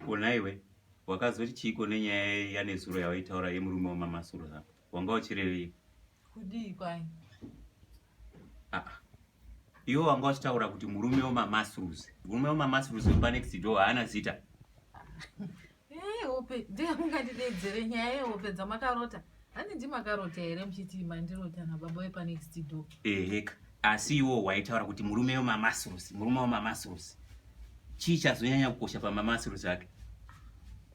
Kona iwe wakazoti chiiko nenyaya yanezuro yawaitaura yemurume wamamasuro hako wanga uchirevei kudii kwai ah, ah. iwe wanga uchitaura kuti murume wemamasrus murume wemamasrus wepanext do haana zita eh, hope ndee mungandidedzere nyaya yehope dzamakarota handidi makarota here muchiti mandirota nababa wepanext do eheka asi iwo waitaura kuti murume wemamasurusi murume wemamasurusi chii chazonyanya kukosha pamamasurusi ake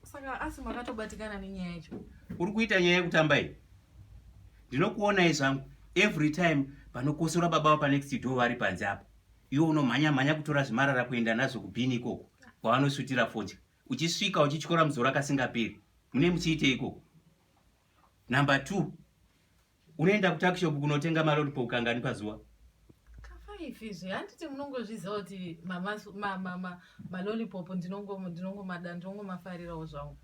saka asi makatobatikana nenyaya yacho uri kuita nyaya yekutamba iyi ndinokuonai zvangu every time vanokosora baba vapanext do vari panze apa iwo unomhanya mhanya kutora zvimarara kuenda nazvo kubhini ikoko kwavanosutira fodya uchisvika uchityora muzoro akasingaperi mune muchiite ikoko Number 2 unoenda kutakishop kunotenga malolipo kangani pazuva ifizve handiti munongozviziva kuti malolipop ndinongomada ndinongomafarirawo zvangu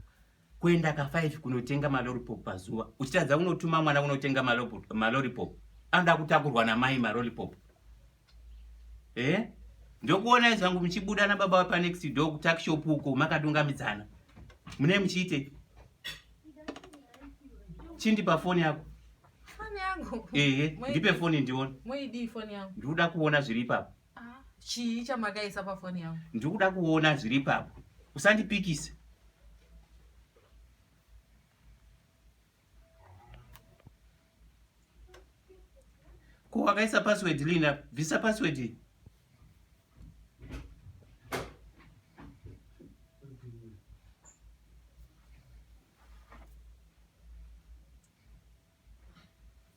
kuenda kafive kunotenga malolipop pazuva uchitadza unotuma mwana unotenga malolipop anoda kutakurwa namai malolipop Eh? Ndokuonai zvangu muchibuda nababa wepa next door kutuck shop uko makadungamidzana. Mune muchiite? Chindi pa phone yako. Phone yangu. Eh, ndipe phone ndione. Moidi phone yangu. Ndikuda kuona zviri ipapo. Ah, chii chamakaisa pa phone yangu? Ndikuda kuona zviri ipapo. Usandipikise. Ko wakaisa password Lina, bvisa password iyi.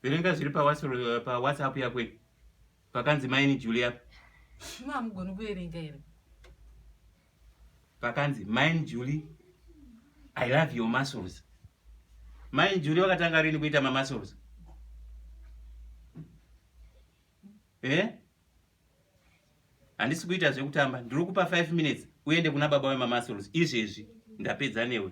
Verenga zviri pa WhatsApp yako iyi. Pakanzi maini Julia. Shima hamugoni kuverenga here? pakanzi main Julie I love your muscles main Julie wakatanga rini kuita ma muscles eh handisi kuita zvekutamba ndiri kupa 5 minutes uende kuna baba wema muscles izvezvi ndapedza newe